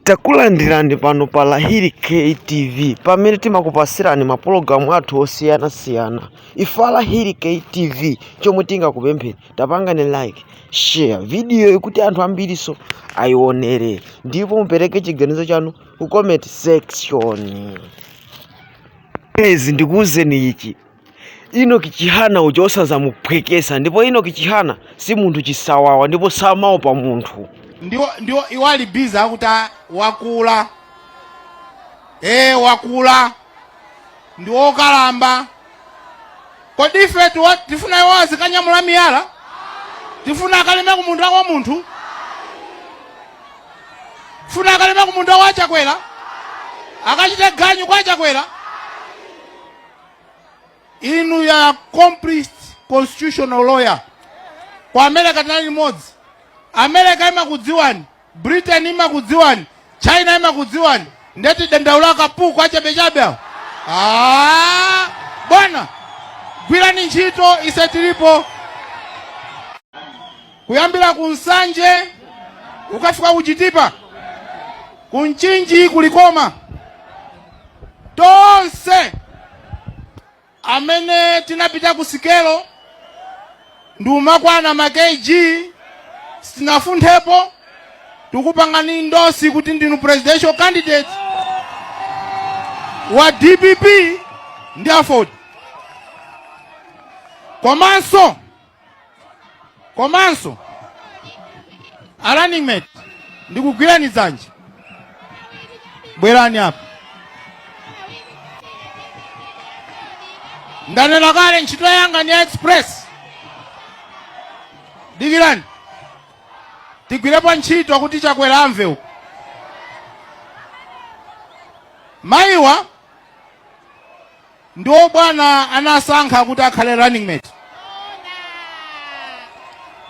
Takulandirani pano pa Lahiri K TV pamene timakupasirani mapulogalamu athu osiyanasiyana. Ife a Lahiri K TV chomwe tingakupempheni tapangani like share videoyi kuti anthu ambirinso ayionere ndipo mupereke chiganizo chanu ku comment section. Guys, ndikuwuzeni ichi Enock Chihana uja osazamuphwekesa ndipo Enock Chihana si munthu chisawawa ndipo samaopa munthu ndiwo ndiwo iwo ali busy akuti "Ah, wakula ee wakula ndi wokalamba kodi ife tiwa- tifuna iwo azikanyamula miyala tifuna akalime ku munda wa munthu tifuna akalime ku munda wa chakwera akachite ganyu kwa chakwera inu ndi accomplished constitutional lawyer ku america tinali limodzi america imakudziwani britain imakudziwani china imakudziwani nde tidandaula akapuku achabechabe awo Ah, bwana gwirani ntchito ise tilipo kuyambira ku nsanje ukafika ku chitipa ku mchinji ku Likoma tonse amene tinapita ku sikelo ndikumakwana ma kg sitinafunthepo tikupangani endorse kuti ndinu presidential candidate wa dpp ndi aford komanso komanso a running mate ndikugwirani dzanja bwerani apa ndanena kale ntchito yanga ni ya express dikirani tigwirepo ntchito kuti chakwera amve uko mayiwa ndiwo bwana anasankha kuti akhale running mate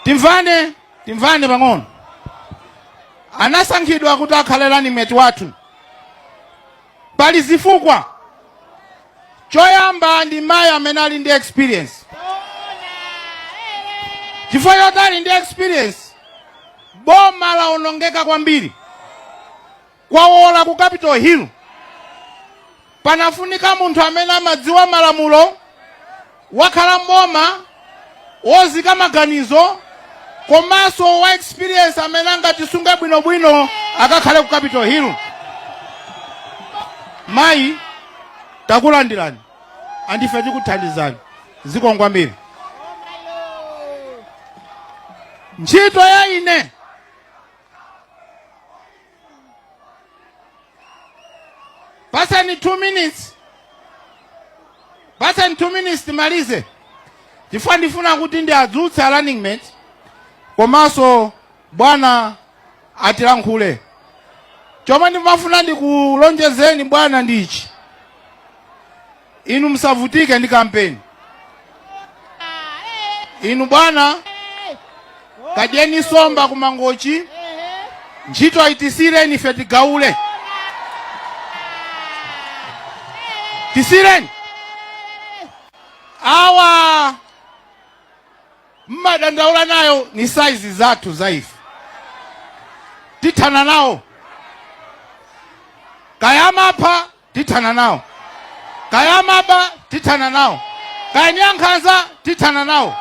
timvane timvane pang'ono anasankhidwa kuti akhale running mate wathu pali zifukwa choyamba ndi mayi amene ali ndi experience chifukwa choti ali ndi experience boma laonongeka kwambiri Kwawola ku Capital Hill panafunika munthu amene amadziwa malamulo, wakhala m'boma, wozika maganizo komanso wa experience amene angatisunge bwinobwino akakhale ku Capital Hill. Mayi takulandirani andife tikuthandizani zikomo kwambiri. Ntchito ya ine Patsani 2 minutes. Patsani 2 minutes timalize. Chifukwa ndifuna kuti ndiadzutse a running mate komanso bwana atilankhule. Chomwe ndimafuna ndikulonjezeni bwana ndichi. Inu musavutike ndi kampeni. Inu bwana, kadyeni somba ku Mangochi, ntchito itisireni ife tigaule. Tisireni awa mmadandaula nayo ni saizi zathu za ife, tithana nawo kaya amapha tithana nawo kaya amaba tithana nawo kaya ni ankhanza tithana nawo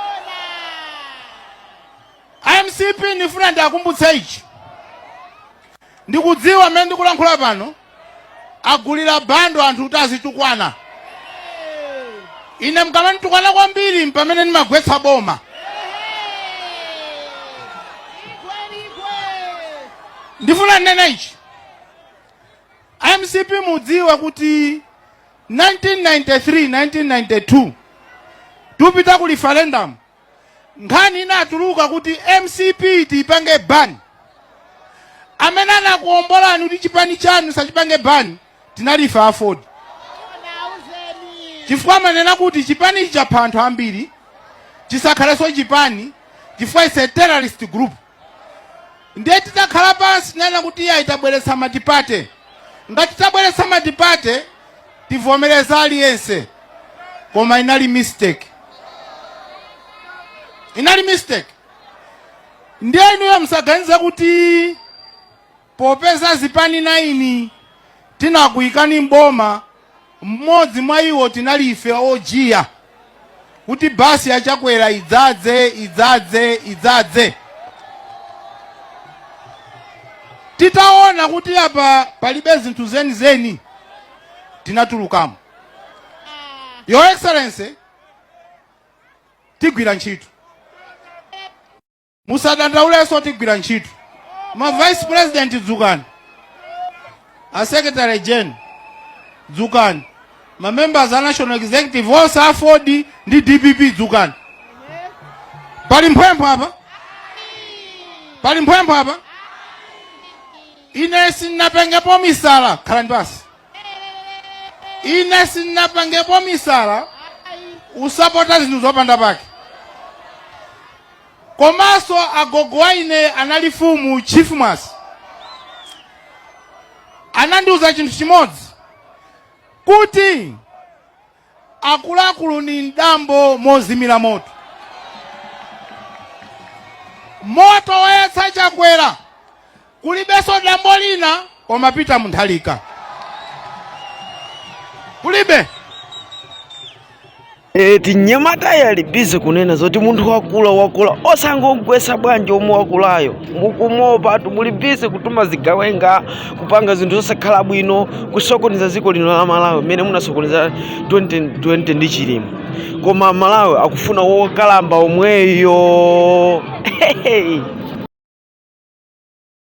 mcp ndifuna ndiakumbutse ichi ndikudziwa mmene ndikulankhula pano agulira bundle anthu kuti azitukwana ine mkamanditukwana kwambiri mpamene ndimagwetsa boma ndifuna ndinene ichi A mcp mudziwa kuti 1993 1992 tupita ku referendum nkhani inatuluka kuti mcp tiipange ban amene anakuombolani kuti chipani chanu sachipange ban tinali ife aford chifukwa amanena kuti chipanichi chapha anthu ambiri chisakhalenso chipani chifukwa it's a terrorist group ndiye titakhala pansi tinanena kuti iyayi tabweretsa matipate ngati tabweretsa matipate tivomereza aliyense koma inali mistake inali mistake ndiye inuyo musaganize kuti Popeza zipani naini tinakuikani m'boma, m'modzi mwaiwo tinali ife ojiya kuti basi ya Chakwera idzadze, idzadze, idzadze. Titaona kuti apa palibe zinthu zenizeni tinatulukamo. Your Excellency, tigwira ntchito. musadandaulenso tigwira ntchito ma vice president dzukani a secretary gen dzukani ma members a national executive onse aford ndi dpp dzukani pali mphwempho apa pali mphwempho apa ine sinapengepo misala khalani basi ine sinapengepo misala usapota zinthu zopanda pake komaso agogo wa ine anali fumu chief Mwase anandiuza chinthu chimodzi kuti akuluakulu ni mdambo mozimira moto moto wayatsa Chakwera Kulibeso dambo lina koma Peter Munthalika. Kulibe. Tinyamata tili bize kunena zoti munthu wakula wakula osangogwesa bwanji omwe wakulayo mukumuopatu muli bize kutuma zigawenga kupanga zinthu zosakhala bwino kusokoneza ziko lino la Malawi mmene munasokoneza 2020 ndi Chilima koma aMalawi akufuna wokalamba omweyo